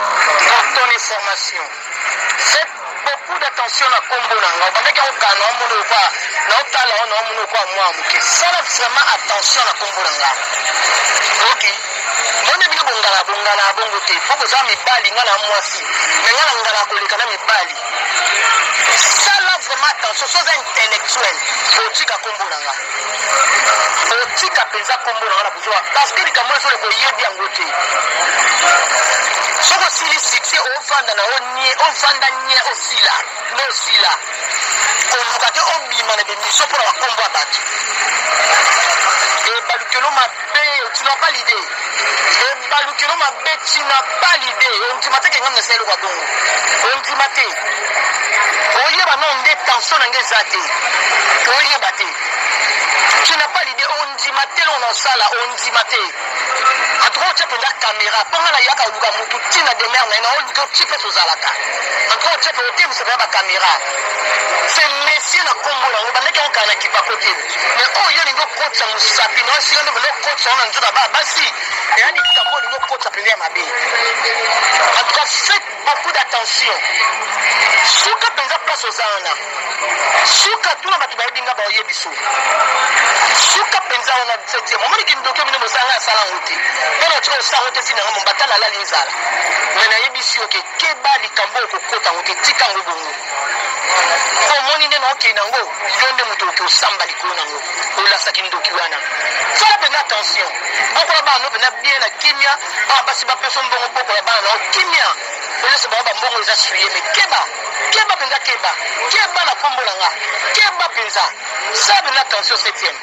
Pour ton information, faites beaucoup d'attention na kombo na nga obandaki yango kala naomona okwa naotala yango naomona okwa mwa moke sala vraiment attention na kombo na nga oki mone bino bongala bongala ya bongo te mpo boza mibali nga na mwasi me nga na ngala koleka na mibali sala vraiment attention soza intellectuel otika kombo na nga otika mpenza nkombo na nga na buzoba parceke likambo oyo ezoleka oyebi yango te soki osili succès ovanda na yo nie ovanda nie osila nde osila koluka te obima na bemission mpo na bakombo ya bato ebalukelo mabe Pee tu n'as pas l'idee ebalukelo mabe tu n'as pas l'idee ondima te kengami nasala eloko ya bongo ondima te oyeba nao nde tension na nge eza te oyeba te tu n'as pas l'idee ondima te eloko naosala ondima te antuka otya mpenza kamera mpo ngai nayaka oluka motu ntina demere na ye naoluki oti mpe tozalaka antuka otya mpe otemisa mpenza bakamera se mesie na nkombo yango bandaki yango kala na kipakotele me oyo yo olingi okotisa mosapi na esika nde bende okotisa wana nzoto aba basi eya likambo olingi okotisa mpenza ya mabe en tout cas faites beaucoup d'attention suka mpenza place oza wana suka tuna bato bayebi nga baoyebi so suka mpenza wana septième omoni kindoki bino bosala nga asala yango te mpo na tika osala yango te ntina yango mombata nalali nzala me nayebisi yo ke keba likambo okokota yango te tika yango bongo omoni nde naokei nango yo nde moto oke osamba likolo nango olasaki ndoki wana sala mpenza attention bokola bana no mpenza bien na kimia bana basi bapeso mbongo bokola bana nao kimia olesa bango bambongo eza suye me keba keba mpenza keba keba na nkombo na nga keba mpenza sala mpenza attention septième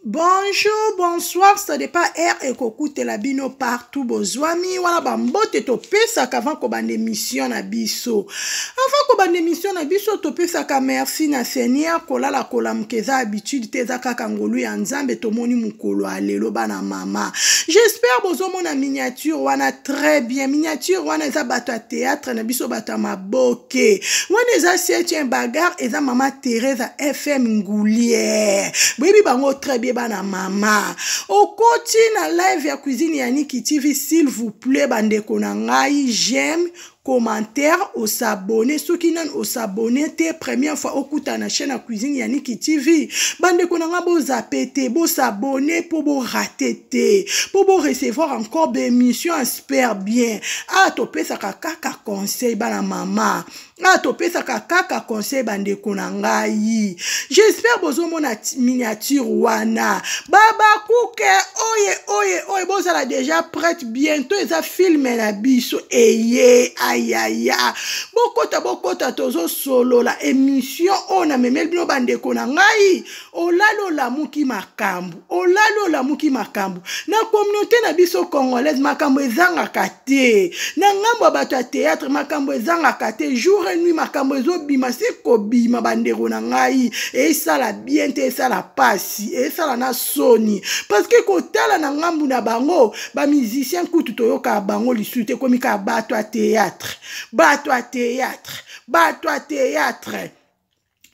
Bonjour, bonsoir, ça dépend heure et kokute la bino partout bozwami wana ba mbote topesaka avant kobanda émission na biso. Avant kobanda émission na biso topesaka merci na Seigneur kolala kolamuka eza habitude te eza kaka ngolu ya Nzambe tomoni mokolo ya lelo bana mama. J'espère bozomona miniature wana très bien. Miniature wana eza bato ya théâtre na biso bato ya maboke. te wana eza septième bagarre eza mama teresa fm ngulier boyebi bango très bien bana mama okoti na live ya cuisine ya niki tv s'il vous plaît bandeko na ngai j'aime commentaire osabone soki nani osabone te première fois okuta na chaîne ya cuisine ya niki tv bandeko na ngai bozape te bosabone mpo borate te mpo borecevoir encore baémission super bien awa ah, topesaka kaka conseil bana mama awa ah, topesaka kaka conseil bandeko na ngai j'espère bozomona miniature wana babakuke oye oye oye bozala déjà prête bientôt eza filme na biso eye ayaya bokota bokota tozosolola émission oyo namemeli bino bandeko na ngai olali olamuki makambo olali olamuki makambo na communauté na biso congolaise makambo ezangaka te na ngambo ya bato ya théâtre makambo ezangaka te jour et nuit makambo ezobima si kobima bandeko na ngai esala bien te esala pasi esala na soni parce que kotala na ngambo na bango bamusicien kutu toyokaka bango lisusu te ekomi kaka bato ya théâtre bato ya théâtre bato ya théâtre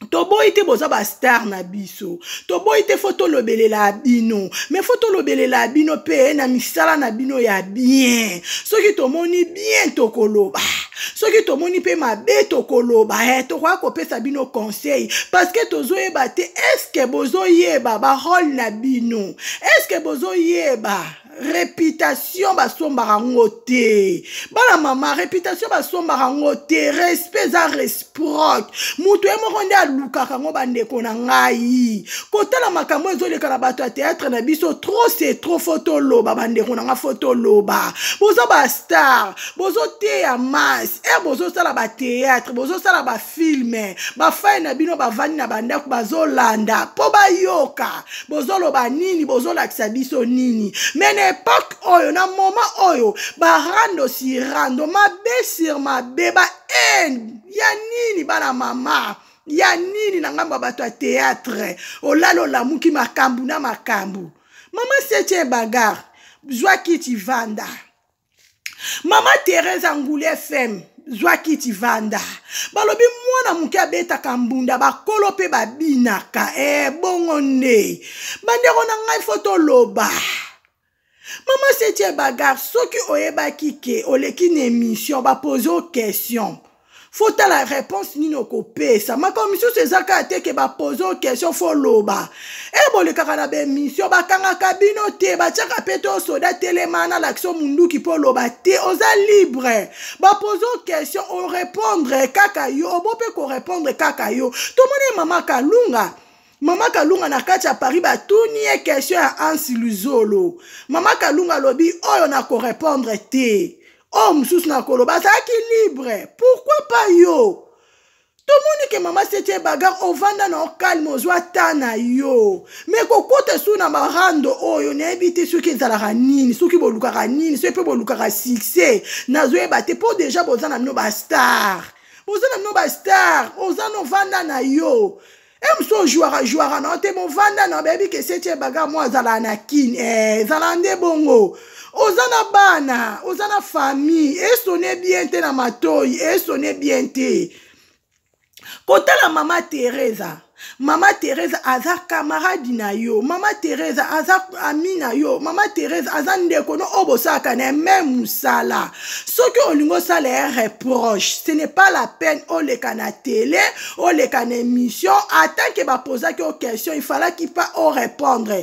toboyi te boza bastar na biso toboyi te fo tolobelela bino me fo tolobelela bino mpe na misala na bino ya bien soki tomoni bien tokoloba soki tomoni mpe mabe tokoloba e tokoya kopesa bino conseil parceke tozoyeba te eske bozoyeba barole na bino eske bozoyeba reputation basombaka ngo te bana mama reputation basombaka ngo te respect eza resproc moto ye moko nde alukaka ngo bandeko na ngai kotala makambo ezoleka na bato ya théâtre na biso trop c'est trop fo toloba bandeko na ngai fo toloba boza bastar bozoteya masse e eh, bozosala bathéâtre bozosala ba filme bafai na bino bavandi na bandako bazolanda mpo bayoka bozoloba nini bozolakisa biso nini me na epoke oyo na moma oyo barando si rando mabe sur mabe ba haine ya nini bana mama ya nini na ngambo ya bato ya teatre olala olamuki makambo na makambo mama setie bagare zwa kiti vanda mama teresa ngulu fm zwa kiti vanda balobi mwana moke abetaka mbunda bakolo mpe babinaka e bongo nde bandeko na ngai fo toloba mama setie bagar soki oyebaki ke oleki na emission bapoze o question fo tala réponse nini okopesa makambo misusu eza kaka te ke bapose o question fo loba e bolekaka na baemission bakangaka bino te batiaka mpe to soda telema na lakiso munduki mpo loba te oza libre bapose o question orépondre kaka yo obo mpe korépondre kaka yo tomoni mama kalunga mama kalunga na kati ya paris batuni ye question ya ansi luzolo mama kalunga alobi oyo nakorépondre te oyo mosusu na koloba azalaki libre pourkui pas yo tomoni ke mama setie bagar ovanda na ocalme ozwa ta na yo me kokota su na marando oyo nayebi te soki ezalaka nini soki bolukaka nini soki mpe bolukaka succès nazoyeba te mpo deja boza na bino bastar boza na bino bastar oza novanda na yo emso ojuaka juaka na yo te bovanda na bayebi ke setie baga mwa azalaka na kin eh, ezalaka nde bongo oza na bana oza na famille esone bien te na matoi esone bien te kotala mama teresa mama teresa aza kamaradi na yo mama teresa aza ami na yo mama teresa aza ndeko no oyo bosalaka na ye meme mosala soki olingi osala ye reproche ce n'est pas la peine oleka na tele oleka na émission atant que bapozaki o question il falaki pas o répondre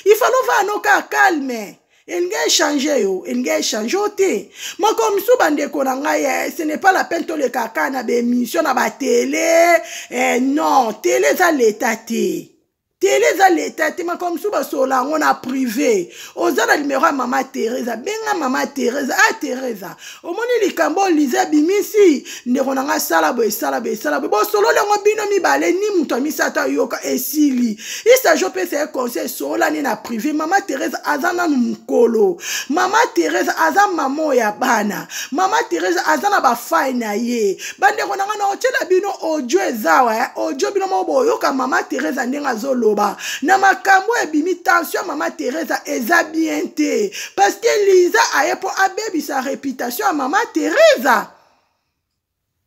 il fale ovaa nokaa calme elingi echange yo elingi echange yo te moko mosusu bandeko na ngai eh, ce n'est pas la peine toleka kaka na baémission na batele eh, non tele eza leta te tele eza leta te makambo mosusu basolola yango na prive oza na limero ya mama teresa benga mama teresa a ah, teresa omoni likambo olize abimisi ndeko na ngai sala boye sala boye sala boye bosololi yango bino mibale ni moto ya misato ayoka esili isaji opesa ye conseil esololani na prive mama teresa aza nanu mokolo mama teresa aza mama ya bana mama teresa aza na bafai na ye bandeko na ngai naotyela bino audio ezawa eh? audio bino moko boyoka mama teresa ndenge azoloba na makambo ebimi tension ya mama teresa eza bien te parce que liza aye mpo abebisa reputation ya mama teresa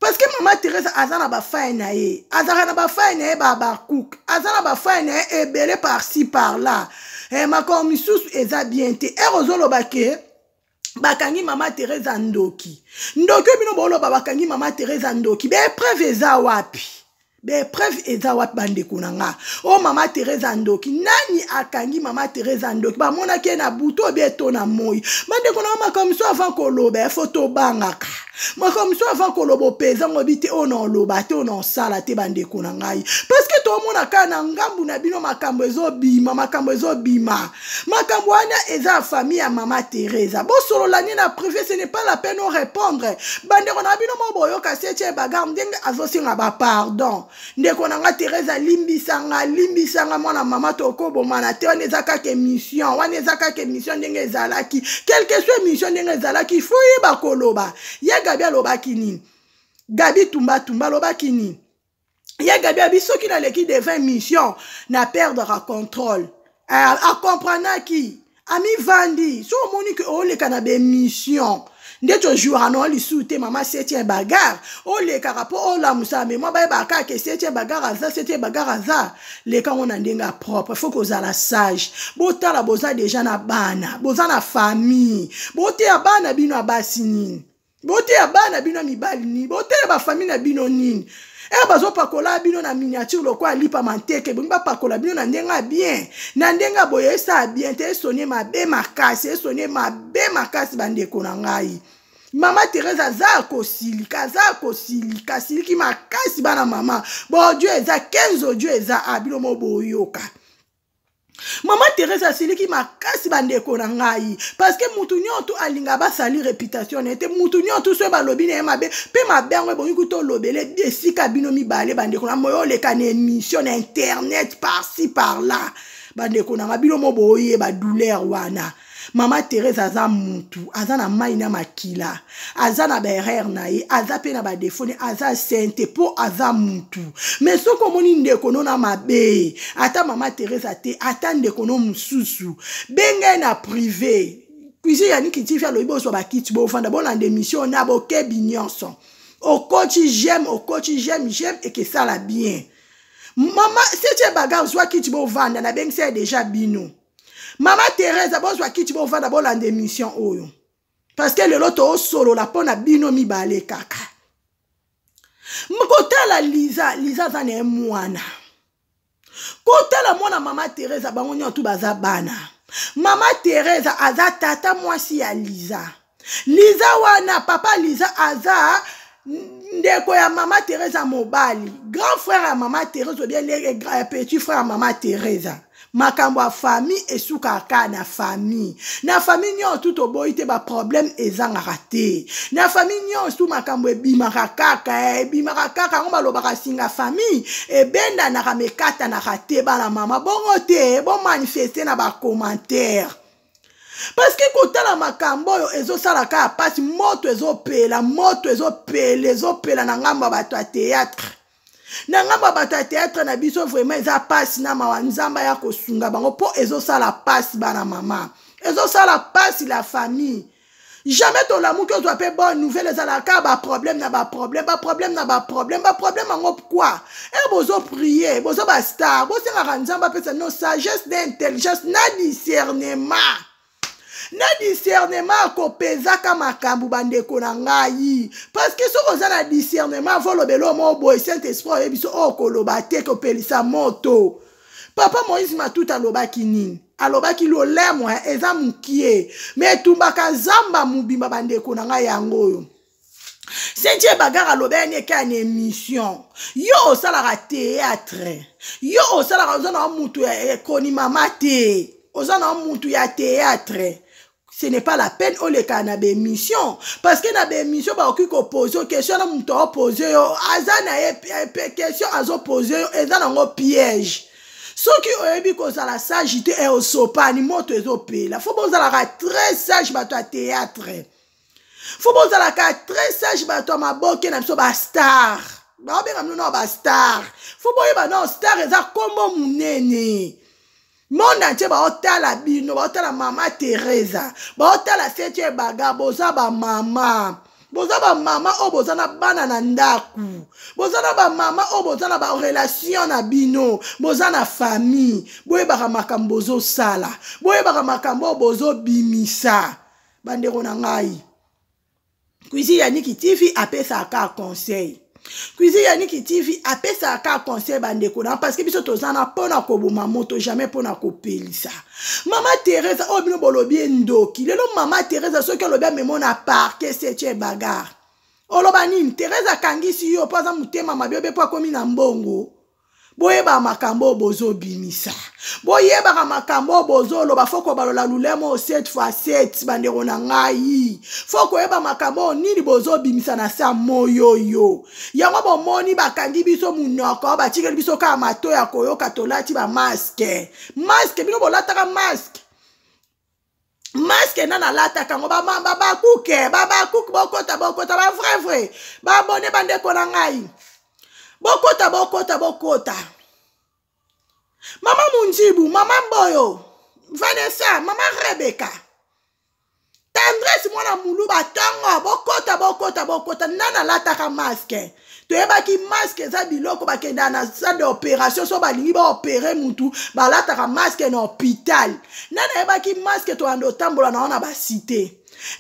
parce que mama teresa aza na bafai na ye azalaka na bafai na ye babakouk aza na bafai na ye ebele parci par là eh, makambo misusu eza bien te ere ozoloba ke bakangi mama teresa ndoki ndoki oyo bino boloba bakangi mama teresa ndoki baepreuve eza wapi baepreuve eza wapi bandeko na nga o mama teresa ndoki nani akangi mama teresa ndoki bamonaki ye na butu obie to na moi bandeko na nga makambo avant koloba ya fo tobangaka makambo mosusu avant koloba opeza ngo bi te oyo na oloba te oyo na osala te bandeko na ngai parceke tomona kaka na ngambu na bino makambo ezobima makambo ezobima makambo wana eza ya famille ya mama teresa bosolola nde na privé ce n'est pas la peine orépondre bandeko na bino mo boyoka setie bagar ndenge azosenga bapardon ndeko na nga teresa limbisanga limbisanga mwana mama tokobomana te wana eza kaka émission wana eza kaka émission ndenge ezalaki quelque soit émission ndenge ezalaki ifo yeba koloba ye gabi alobaki nini gabi tumbatumba alobaki nini ye gabi abi soki naleki devin mission na perdre contrôle eh, akomprenaki amivandi so omoni ke oleka na bemission nde tojouaka na yo lisusu te mama setien bagare olekaka mpo olamusaka me mwa bayebaka kaka ke setien bagare aza setien bagare aza leka yango na ndenge ya propre fo kozala sage botala boza deja na bana boza na famille boteya bana bino ya basi nini boteya bana bino ya mibali nini boteya bafamili na bino nini e eh, bazopakola bino na miniature lokola lipa manteke ebongi bapakola bino na ndenge ya bien na ndenge ya boye esaa bien te esoni mabe makasi esoni mabe makasi bandeko na ngai mama therese aza ya kosilika aza ya kosilika asiliki makasi bana mama bodio eza 15 odio eza abino mo boyoka mama teresa asiliki makasi bandeko na ngai parceke motu nyoto alinga basali reputation na ye te motu nyoto soki balobi na ye mabe mpe mabe yango ebongi kuta olobele esika bino mibale bandeko na moyo oleka na émission na internet parci par là bandeko na ngai bino mo boyeba douleur wana mama therese aza mutu aza na mai na makila aza na baerreur na ye aza mpe na badefo ne aza sente mpo aza mutu me soki omoni ndeko no na mabe ata mama therese te ata ndeko no mosusu benga ye na prive cuisine ya nikitifi alobi bozwa bakiti bofanda bolanda emission na bokebi nyonso okoti jeme okoti jeme jeme ekesala bien mama setie bagar zwa kiti bovanda nabengisa ye deja bino mama teresa bozwa kiti bovanda bolanda émission oyo parce que lelo toosolola mpo na bino mibale kaka kotala liza liza aza na ye mwana kotala mwana mama teresa bango nyonso baza bana mama teresa aza tata mwasi ya liza liza wana papa liza aza ndeko ya mama teresa mobali grand frère ya mama teresa obien eh, eh, petit frère ya mama teresa makambo ya famille esukaka kaka na famille na famille nyonso tu toboyi te baproblème ezangaka te na famille nyonso tu makambo ebimaka kaka eh, ebimaka kaka yango balobaka singa famille ebendanaka mekatanaka te bana mama bongo te bomanifeste na bacommentaire parceke kotala makambo oyo ezosala kaka mpasi moto ezopela moto ezopela ezopela na ngambo ya bato ya théâtre na ngambo ya bato ya théâtre na biso vraiment eza mpasi na mawa nzambe ya kosunga bango mpo ezosala mpasi bana mama ezosala mpasi la famille jamais tolamuki ozwa mpe bonne nouvelle ezalaka kaka baproblème na baproblème baproblème na baproblème baproblème yango pkoi e eh, bozo prie boza bastar bosengaka nzambe apesa no sagesse na intelligence na discernement na discernement akopezaka makambo bandeko na ngai parceke soki oza na discernement volobela omo boye saint esprit oyebi so oyo koloba te kopelisa moto papa moïse matuta alobaki nini alobaki lolemwa eza mokie me etumbaka zamba mobimba bandeko na ngai yango oyo sentie bagar alobelani ekai na émission yo osalaka théâtre yo osalaka oza na motu ya ekonimama te oza na motu ya théâtre ce n'est pas la peine olekaka na baémission parce que na baémission bakoki kopose yo question na moto aopose yo aza na ye question azopose yo eza nango piège soki oyebi kozala sage te e osopani moto ezopela fo bozalaka très sage bato ya théâtre fo bozalaka très sage bato ya maboke na biso bastar baobenga bino nao bastar fo boyeba nao star eza nkombo monene monde entier baotala bino baotala mama teresa baotala setu ebaga boza bamama boza bamama oyo boza na bana na ndako boza na bamama oyo boza na barelation na bino boza na famille boyebaka makambo bozosala boyebaka makambo oyo bozobimisa bandeko na ngai Cuisine ya Niki TV apesa aka conseil. Cuisine ya Niki TV apesa aka conseil bandeko na parce que biso tozana pona koboma moto jamais pona kopelisa. Mama Teresa oyo oh, bino bolobi endoki. Lelo Mama Teresa soki olobi amemo na parquet c'est bagarre. Oloba nini? Teresa akangisi yo po aza motema mabe obe po akomi na mbongo. boyebaka makambo oyo bozobimisa boyebaka makambo oyo bozoloba fo kobalola lulemo oyo set fois set bandeko na ngai fo koyeba makambo oyo nini bozobimisa na sa moyoyo yango bomoni bakangi biso monoko batikeli biso kaka mato ya koyoka tolati bamaske maske bino bolataka maske maske nana alataka yango babakuke babakuke bokota bokota bavrai vrai babone bandeko na ngai bokota bokota bokota mama munjibu mama mboyo vanessa mama rebeka tendresse mwana muluba ntongo bokota bokota bokota nana alataka maske toyebaki maske eza biloko bakendaka na salle d'opération so balingi baopere mutu balataka maske na hôpital nde nayebaki maske toyanda otambola nango na basite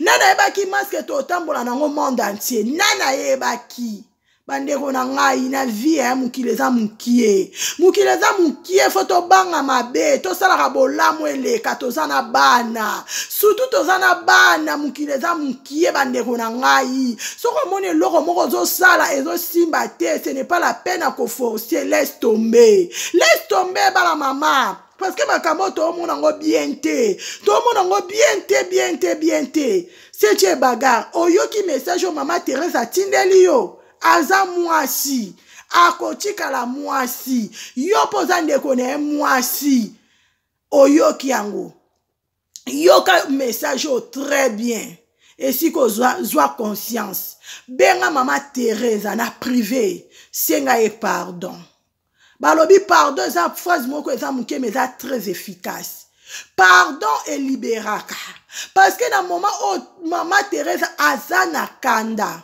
nde nayebaki maske totambola nango monde entier nde nayebaki bandeko na ngai na vie ya mokili eza mokie mokili eza mokie fo tobanga mabe tosalaka bolamu eleka toza na bana sutu toza na bana mokili eza mokie ye bandeko na ngai soki omoni eloko moko ozosala ezosimba te ce n'est pas la peine ya koforce laisse tomber laisse tomber bana mama parce que makambo toomona yango bien te toomona yango bien te bien te bien te setie bagar oyoki message oyo mama therese atindeli yo aza mwasi akotikala mwasi yo mpo oza ndeko na ye mwasi oyoki yango yoka message oyo très bien esika ozwa zwa conscience benga mama teresa na prive senga ye pardon balobi pardon eza phrase moko eza moke ma eza très efficace pardon eliberaka parce que na moment oyo mama teresa aza na kanda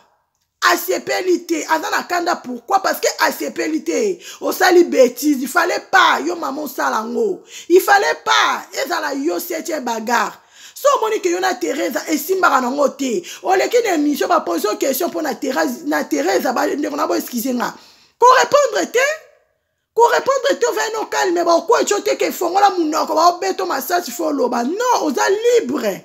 asepeli te aza na kanda pourquoi parce que asepeli te osali bétise il fallait pas yo mama osala yango il fallait pas ezala yo setie bagarre so omoni ke yo na teresa esimbaka nango te oleki na émission bapose yo question mpo na teresa bandeko na bo excuse nga korépondre te korépondre te ovai no calme baokwei tyo te ke fongola monoko baobeto masasi fo oloba non oza libre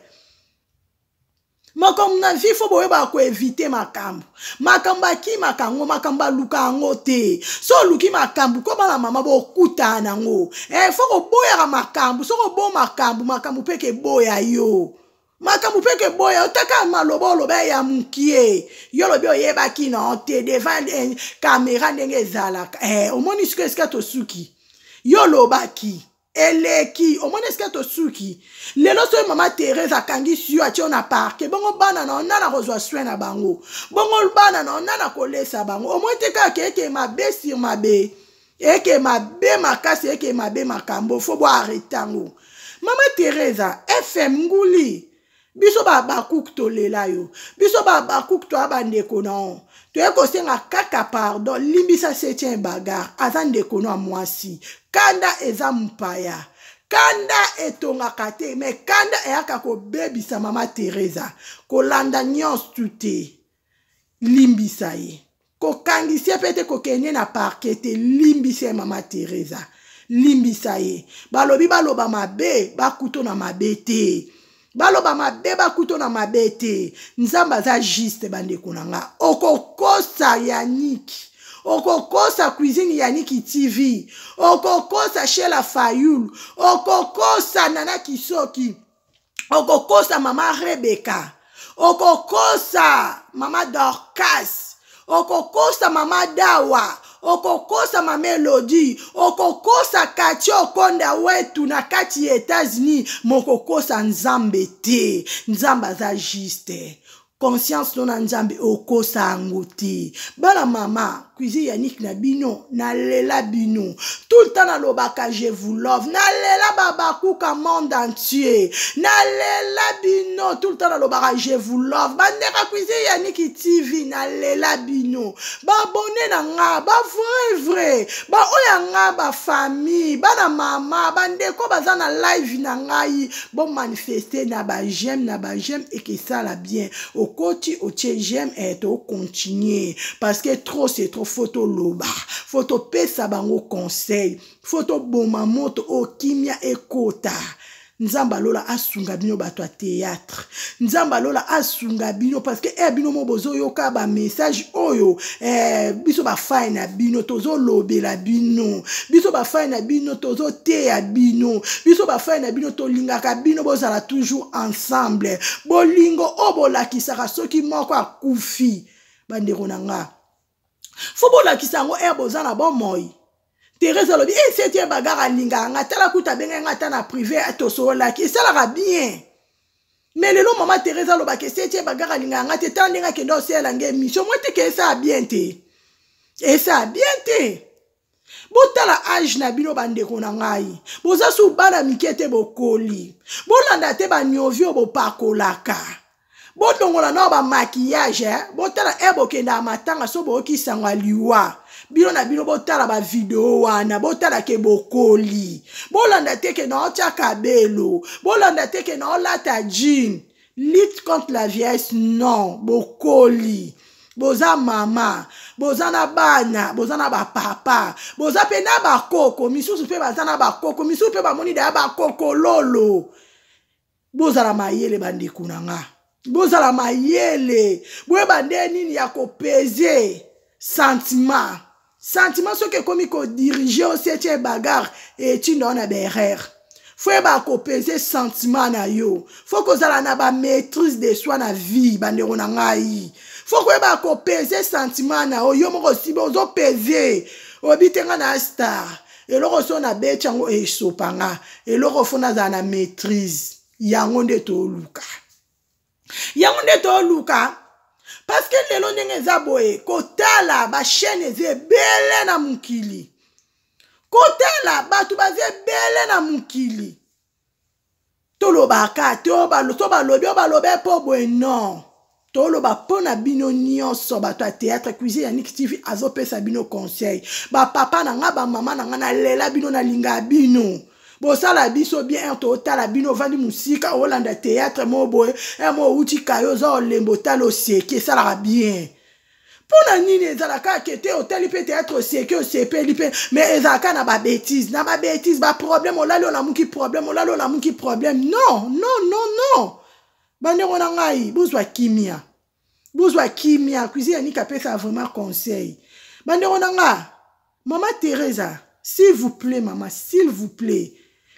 makambo na vie fo boyebaka koevite makambo makambo akimaka yango makambo aluka yango te so oluki makambo koma na mama bokutana na yango e eh, fo koboyaka makambo soki obo makambo makambo mpe keboya yo makambo mpe keboya otaka maloba oloba ya mokie yo olobi oyebaki na te devant eh, kamera ndenge ezalaka e eh, omoni siko esika tosuki yo olobaki eleki omoni esika tosuki lelo soki mama therese akangisi yo atie yo na parke bongo bana na yo nani akozwa soin na bango bongo bana na yo nani akolesa bango omoni te kaka eke mabe sur mabe eke mabe makasi eke mabe makambo fo boarete yango mama theresa fm nguli biso bahabakuku tolela yo biso bahabakuku toya bandeko na yo toye kosenga kaka pardon limbisa setien bagar aza ndeko na mwasi kanda eza mpaya kanda etongaka te me kanda eyaka kobebisa mama teresa kolanda nyonso te limbisa ye kokangisi ye mpe te kokende na parke te limbisa ye mama teresa limbisa ye balobi baloba mabe bakuto na mabe te baloba mabe bakuto na mabe te nzambe aza juste bandeko na nga okokosa yaniki okokosa cuisine yaniki tv okokosa shela fayulu okokosa nana kisoki okokosa mama rebeka okokosa mama dorcas okokosa mama dawa okokosa mama elodi okokosa kati okonda wetu na kati ya etats-unis mokokosa nzambe te nzambe aza juste conscience no na nzambe okosa yango te bana mama cuisine ya niki na bino nalela bino tout le temps nalobaka je vous love nalela babakuka monde entier nalela bino tout le temps nalobaka je vous love bandeka cuisine ya niki tv nalela bino babone na nga ba vrai vrai baoyo ya nga bafamille bana mama bandeko baza na live na ngai Bon manifester na ba j'aime na ba j'aime et que ça la bien. Au côté au tiers j'aime et eh, au continuer parce que trop c'est trop photo loba. Photo pesa bango conseil. Photo bon mamoto au oh, kimia et kota. nzambe alola asunga bino bato ya théâtre nzambe alola asunga bino parce que e eh, bino mo bozoyoka bamessage oyo Eh, biso bafai na bino tozolobela bino biso bafai na bino tozoteya bino biso bafai na bino tolingaka bino bozala toujours ensemble bolingo oyo bolakisaka soki moko akufi bandeko na nga fo bolakisa yango ere eh, boza na bomoi Teresa alobi eh c'est un bagarre alingaka nga tala kuta benga nga ata na privé atosololaki esalaka bien mais lelo mama Teresa alobaka c'est un bagarre alingaka nga te tala ndenge akende osela nga émission moi te ke esaa bien te esaa bien te botala age na bino bandeko na ngai boza su bana mike te bokoli bolanda te baniovi oyo bopakolaka bolongola nao bamaquillage eh? botala e eh, bokendaka matanga so boyoki sango ya liwa bino na bino botala bavideo wana botala ke bokoli bolanda te ke nao tya kabelo bolanda te ke nao lata jean lutte contre la viesse non bokoli boza mama boza na bana boza na bapapa boza mpe na bakoko misusu mpe baza na bakoko misusu mpe bamoni daya bakokololo bozala mayele bandeko na nga bozala mayele boyeba nde nini ya kopeze sentiment sentiment soki ekomi kodirige osi etie bagare etinda wana baerreur fo yeba kopeze sentiment na yo fo kozala na bamaîtrise de soi na vie bandeko na ngai fo koyeba kopeze sentiment na yo yo moko osibi ozopeze oyebi te ngai na star eloko so nabeti yango esopa nga eloko fo nazala na maîtrise yango nde toluka yango nde toluka parceke lelo ndenge eza boye kotala bachaine eza ebele na mokili kotala bato baza ebele na mokili tolobaka te so balobi oyo balobe mpo boye non toloba mpo na bino nyonso bato ya théâtre cuisine ya niki tv azopesa bino conseil bapapa na ngai bamama na ngai nalela bino nalinga bino bosala biso bien r totala bino ovandi mosika olanda théâtre mo boye r mo outi kayo oza olembo otala oseki esalaka bien mpo na nini ezalaka ke te otali mpe théâtre oseki osepeli mpe mais ezalaka na babétise na babétise baproblème olali olamuki problème olali olamuki problème non non non non bandeko na ngai bozwa kimia bozwa kimia cuisine ya nika apesa vraiment conseil bandeko na ngai Mama Teresa, s'il vous plaît mama, s'il vous plaît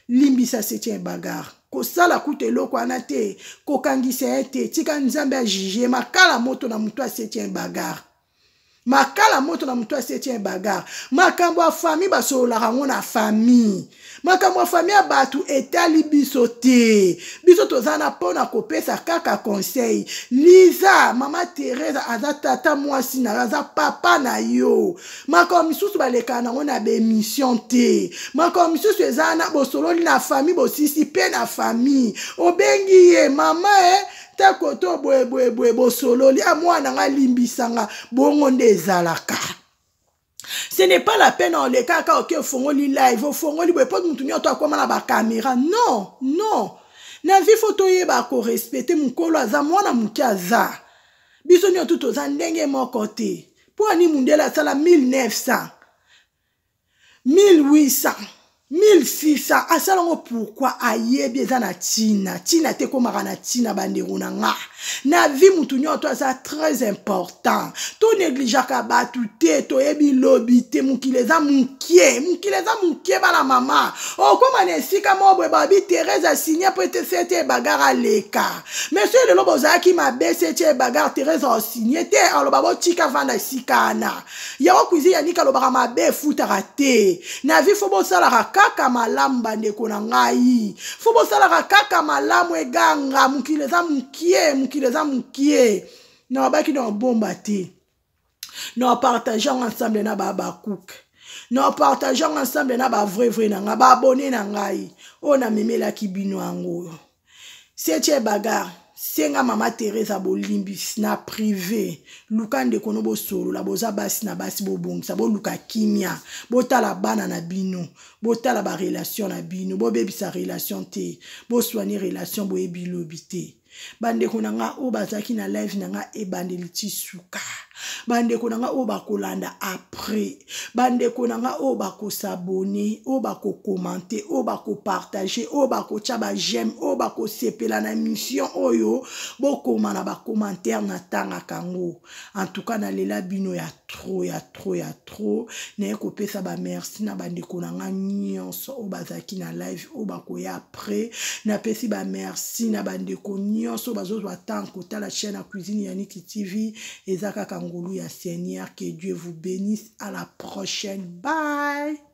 limbisa setien bagarre kosala kutu eloko wana te kokangisa ye te tika nzambe ajuge makala moto na moto asetien bagarre makala moto na moto asetien bagarre makambo ya famille basololaka yango na famille makambo ya fami ya bato etali biso te biso toza na mpo na kopesa kaka conseil liza mama teresa aza tata mwasi na yo aza papa na yo makambo misusu balekaka nango na baemission te makambo misusu eza na bosololi na fami bosisi mpe na fami obengi ye mama e eh? ntako to boyeboyeboye bosololi a ah, mwana nga limbisanga bongo nde ezalaka ce n'est pas la peine oleka kaka oke ofongoli live ofongoli boye mpo motu nyonso akoma na bakamera non non na vie fo toyeba korespecte mokolo aza mwana moke aza biso nyonso toza ndenge moko te mpo ani mundele asala 1900 1800 1600 asala ngo pourkui ayebi eza na ntina ntina te ekomaka na ntina bandeko na nga na vie motu nyonso to aza très important tonegligeaka bato te toyebi lobi te mokili eza mokie mokili eza mokie bana mama okóma na esika moko boye babi therese asigne mpo ete sete ebagare aleka monsieur lelo bozalaki mabe sete ebagare therese asigne te aloba botika vanda esika ana yango cuisine ya nika alobaka mabe efutaka te na vie fo bosalaka kaka malamu bandeko na ngai fo bosalaka kaka malamu eganga mokili eza mokie mokili eza mokie na babaki na babomba te na bapartage yango ensemble na babakuke na bapartage yango ensemble na bavrai vrai na ngai baabone na ngai oyo namemelaki bino yango oyo setie bagar senga mama teresa bolimbisi na prive luka ndeko no bosolola boza basi na basi bobongisa boluka kimia botala bana na bino botala barelation na bino bobebisa relation te boswani relation boyebi lobi te bandeko na nga oyo bazalaki na live na nga ebandeli ti suka bandeko na ngai oyo bakolanda après bandeko na ngai oyo bakosabone oyo bakokomante oyo bakopartage oyo bakotya bajeme oyo bakosepela na émission oyo bokoma na bacommentaire natangaka yango en tout cas nalela bino ya tro ya tro ya trop naye kopesa bamerci na bandeko na ngai nyonso oyo bazalaki na live oyo bakoya après napesi bamerci na bandeko nyonso oyo bazozwa ntango kotala chaîne ya cuisine ya niki tv eza kaka ngolu ya seigneur que dieu vous bénisse à la prochaine bye